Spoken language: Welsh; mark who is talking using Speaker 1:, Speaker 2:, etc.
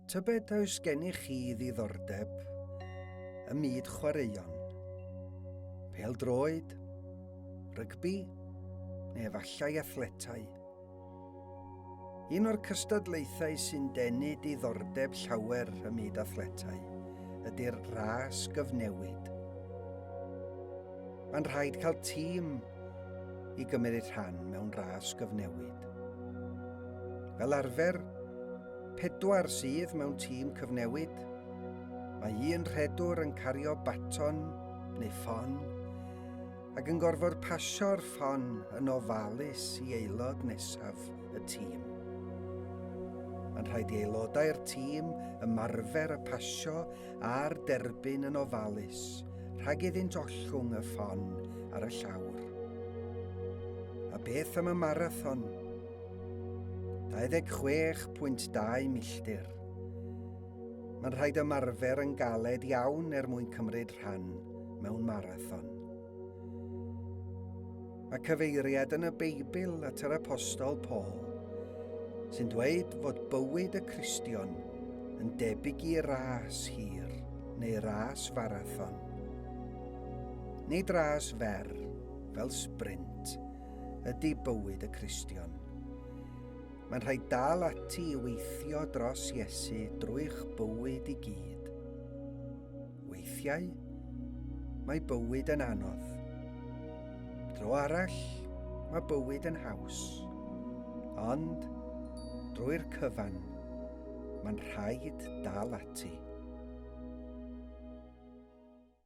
Speaker 1: Tybed oes gennych chi ddiddordeb ym myd chwaraeon? Pel droed, rygbi, neu efallai athletau? Un o'r cystadlaethau sy'n denu diddordeb llawer ym myd athletau ydy'r ras gyfnewid. Mae'n rhaid cael tîm i gymryd rhan mewn ras gyfnewid. Fel arfer, pedwar sydd mewn tîm cyfnewid, mae un rhedwr yn cario baton neu ffon ac yn gorfod pasio'r ffon yn ofalus i aelod nesaf y tîm. Mae'n rhaid i aelodau'r tîm ymarfer y pasio a'r derbyn yn ofalus rhag iddynt ollwng y ffon ar y llawr. A beth am y marathon? 26.2 milltir. Mae'n rhaid ymarfer yn galed iawn er mwyn cymryd rhan mewn marathon. Mae cyfeiriad yn y Beibl at yr apostol Paul, sy'n dweud fod bywyd y Cristion yn debyg i ras hir neu ras farathon, nid ras fer fel sprint ydy bywyd y Cristion. Mae'n rhaid dal ati i weithio dros Iesu drwy'ch bywyd i gyd. Weithiau, mae bywyd yn anodd. Dro arall, mae bywyd yn haws. Ond, drwy'r cyfan, mae'n rhaid dal ati.